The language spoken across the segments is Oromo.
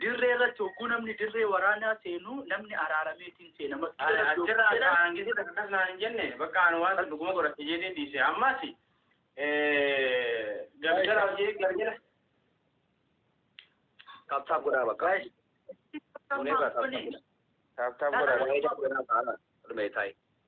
dirree irratti hogguu namni dirree waraanaa seenu namni araarameetiin seena. Achirraa kaan giduu takkas naan jenne bakka ani waan san dhuguma godhate jedhee dhiise ammas galgala hojii galgala. Taaptaap godhaa bakka. Taaptaap godhaa. Taaptaap godhaa. Taaptaap godhaa.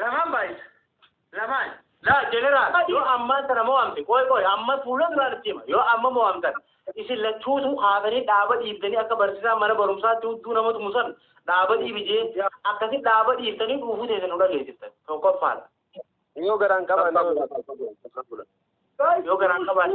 Lamaan baay'isa. Lamaan. Laa jeneraal yoo ammaan sana mo'amte qooy qooy ammas fuula duraan itti hima yoo amma mo'amtan isin lachuutu kaatanii dhaaba dhiiftanii akka barsiisaa mana barumsaatti hudduu nama tumu san dhaaba dhiibi jee akkasi dhaaba dhiiftanii dhuufuu teessan nu dhageessiftan tokkoffaadha. Yoo garaan qaban Yoo garaan qabaanne.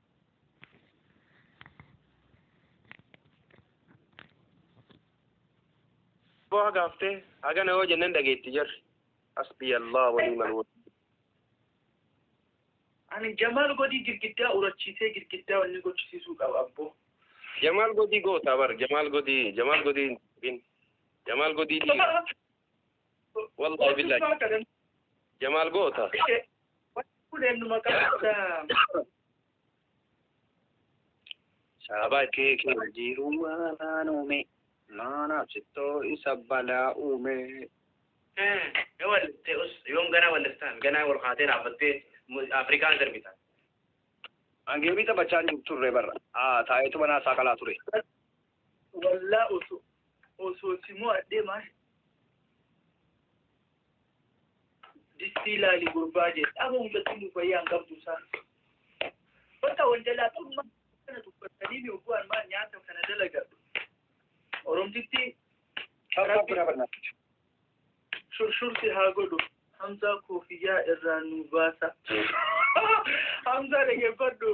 boo haga haftee haga na yoo jennan dhageetti jarri hasbii allah walii malwal ani jamaal godii girgiddaa urachiisee girgiddaa wanni gochisiisuu qaba abboo jamaal godii gootaa bar jamaal godii jamaal godii hin jamaal godii dhiiga Wallahi billahi. Jamaal goota. Saba kee kee jiru malaan uume. Maanaaf sittoo isa balaa uume. yoom ganaa walliftaan ganaa wal kaatee dhaabbattee afrikaan sirbita Angeemii taphachaa hin turre barra. Haa taa'eetu manaa isaa qalaa ture. Wallaa osoo osoo si mo'adhee maal distii laali gurbaa jee dhaba mucattiin nu fayyaa hin qabdu isaa bakka wal jalaa qabummaa kana dubbatanii mi oguu armaa nyaata kana dalagadhu oromtitti shurshurti haa godhu hamzaa koofiyyaa irraa nu baasa hamzaa dhaggeeffadhu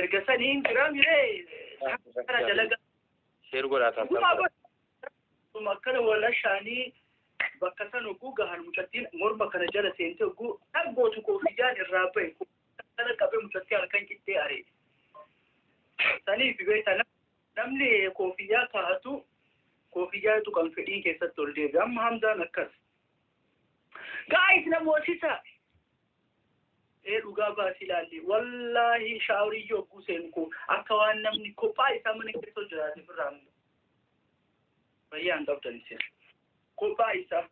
Erga sanii hin jiraa miree kana dalaga. Sheer godhaa taasisaa. Dhugumaa godha. Akkana wal ashaanii bakka san oguu gahan mucattiin morma kana jala seentee oguu dhaggootu koofiyaan irraa bahe kana qabee mucattii halkan qixxee aree. Saniif beekta namni koofiyyaa kaa'atu koofiyyaa tuqan fedhiin keessatti ol deebi'a. Amma hamdaan akkas. Gaa'is na moosisa. Ee dhugaa baasii laalli wallaahi shaawrii yogguu seenu koo akka waan namni kophaa isaa mana keessoo jiraate birraa miti. Fayyaa hin qabdan isin. Kophaa isaa.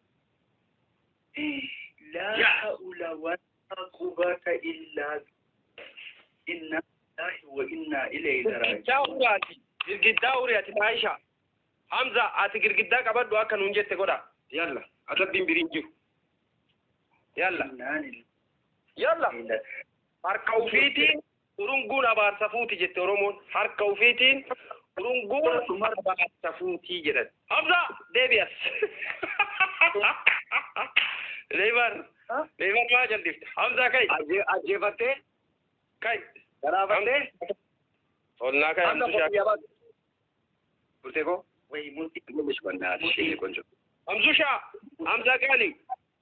Laa ha'ula walaa qubata illaa inna ilaahi wa inna ilayhi Girgiddaa raaji'uun. uriyaati. Girgiddaa uriyaati Aisha. Hamza ati girgiddaa qabadhu akka nuun jette godha. Yalla adabbiin biriin jiru. Yalla. Yalla. Harka ufiitiin urunguun abaarsa fuuti jette Oromoon. Harka ufiitiin urunguun abaarsa fuuti jedhan. Hamza deebi'as. Leeybar. Leeybar maa jaldifte. Hamza kai. Ajjeefattee? Kai. Garaafattee? Onnaa kai. Hamza Hamza koffiyyaa baatu. Murtee koo. Wayii murtee. Murtee koo. Murtee koo. Murtee Hamzushaa, Hamza Gaali,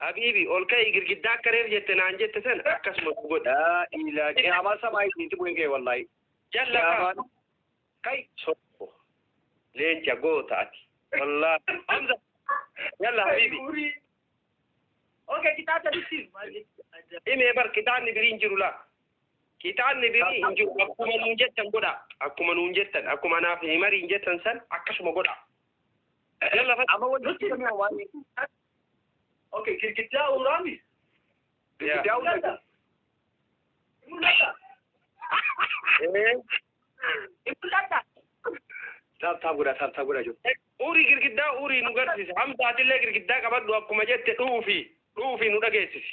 Habiibi, ol ka'i girgiddaa akka reef jette naan jette sana akkasuma nu godha. Laa ilaa qiyaamaa samaa isiiti bu'ee kee wallaahi. Jalla kaa. Kai. Sobo. Leenca goota ati. Wallaahi. Hamza. Jalla Habiibi. Okay, kitaata bitti. Himee bar kitaanni biriin jiru laa. Kitaabni birii hin jiru akkuma nuun jettan godhaa akkuma nuun jettan akkuma anaaf himariin jettan san akkasuma godhaa. Idan lafa Amma wanti nutti himi hoo maali? Okay, girgiddaa uuraami. Girgiddaa uuraami. Taap taap godhaa taap taap godhaa jiru. Uurii girgiddaa uurii nu garsiisa. Hamzaatillee girgiddaa qabadhu akkuma jette dhuufi dhuufi nu dhageessisi.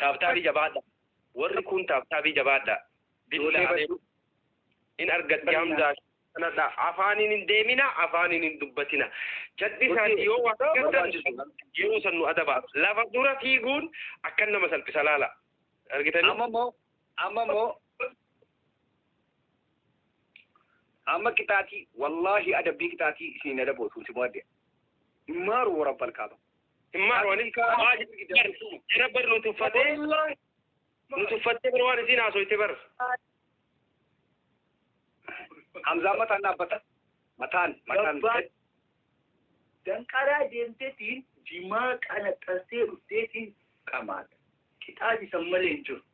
Taabtaabii jabaadha. Warri kun taabtaabii jabaadha. Ijoollee baduu in argatti hamzaa kanadha. Afaaniin hin deemina, afaaniin hin dubbatina. Jadhisaati yoo waa argattan yeroo san nu adaba. Lafa dura fiiguun akkan nama salphisa laala. Argitanii? Amma immoo amma immoo amma qixaatii wallaahi adabbii qixaatii isin adaboo tuuti mo'adde immaaru warabbal kaaba Immaan waan jira bar nu tuffatee nu tuffattee bar waan isiin haasoyte bar. hamzaan mataan dhaabbata mataan mataan Gabbaa danqaraa deemtetiin jimaa qanaxxansee dhufteetiin qamaata. Qixaati san malee hin jiru.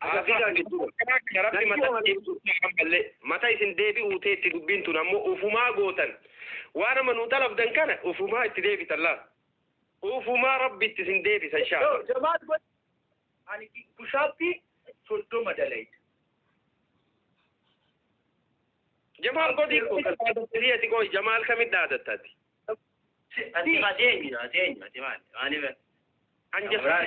Agarsiisaa jechuudha. Karaa kana rabbi Lakki mata oolanii. deebisuudhaan kan malle mata isin deebi'uu teetti dubbiin tun ammoo ufumaa gootan waan amma nuu xalabdan kana ufumaa itti deebitan laal ufumaa rabbi itti isin deebisa Yoo inshaa'Allah. jamaal godhe ani bushaappii soddoma dalayda. Jamaal godhii koo kan dhaadattanii ati qoy jamaal kamitti dhaadattati? Ati maa deemi maa deemi ati maali maaliif An jamaal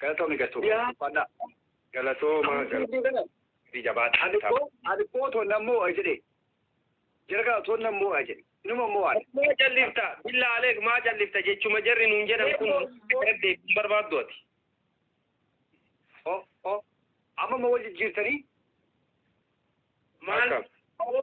Galatoomi Gatuu. Yaa. Uffannaa. Galatooma. Galatooma. Itti jabaadha. Alikoo alikoo tonna mo'a jedhe. Jargaa tonna mo'a jedhe. Numa mo'an. Maa callifta billa aleek maa callifta jechuma jarri nuun jedhan kun deebii hin barbaaddu ati. O o amma ma wal jijjiirtanii? Maal Akkam.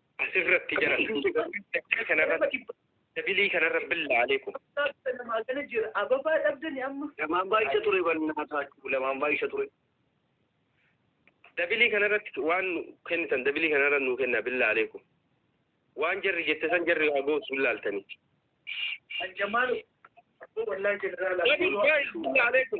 Asirratti jara kanarratti dabilii kanarra billaa aleekum. Ababaa dhabdani amma. Lamaan baay'isa ture bannaa taachuu lamaan baay'isa ture. Dabilii kanarratti waan kennitan dabilii kanarra nuu kenna billaa aleekum. Waan jarri jette san jarri waa gootu hin laaltanii. Ajjamaal. Wallahi jeneraala. Billaa aleekum.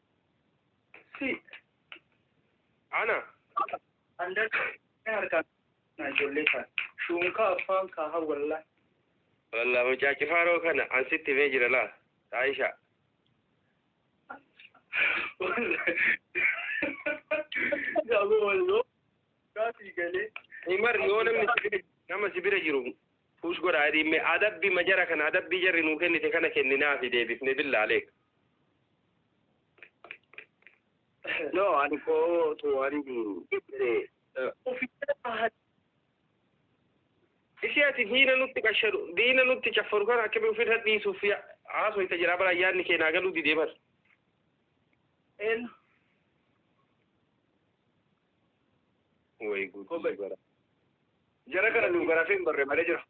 Si. Ana. Andar harkaan na ijoollee kan shuunkaa afaan kaaha wallaa. Wallah mucaa cifaaroo kana an sitti himee jira laa. Aisha. Gaabo walloo. Gaafii galee. Imar yoo namni si bira nama si bira jiru push godha adiimme adabbi majara kana adabbii jarri nuu kennite kana kenninaafi deebifne billaalee. No, ani koo tu ani ibse. Uffisa bahan. Isi ati diina nutti qashadu, diina nutti caffaru kana akkami ofirra dhiisuuf ya- haasoyta jira bara yaadni kee naa galuu didee bar. Eenyu? Way Obay. gudii bara. Jara kana nu garafee hin barre malee jira.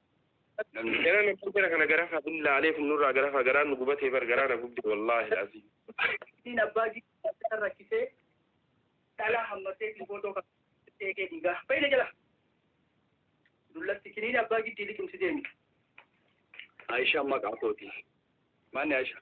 Namni Jara na kan jara kana garafa hin laalee kun nurraa garafa garaa nu gubatee bar garaa na gubde wallaahi laazii. Siin abbaa gidduu rakkisee dhalaa hammatee fi footoo kan eegee dhiigaa. Fayyina jala. Dullatti kiniin abbaa giddii liqimsi deemi. Aisha maqaa kooti. Maanni Aisha?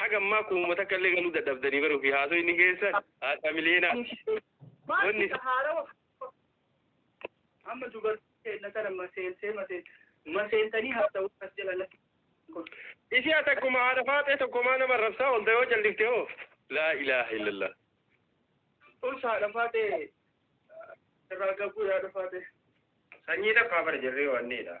Haga ammaa kuuma takka illee galuu dadhabdanii baruu fi haasoo inni keessan haadha miliyeenaa. Wanni amma dubartii na kana maseensee maseen maseentanii haasa'uu as jala lakki Ishii ati akkuma haadha faaxee tokkomaa nama rabsaa olta yoo callifte hoo. Laa ilaaha illallah. us haadha faatee irraa gabuu yaada faatee. Sanyii takkaa bara jirree wanniidha.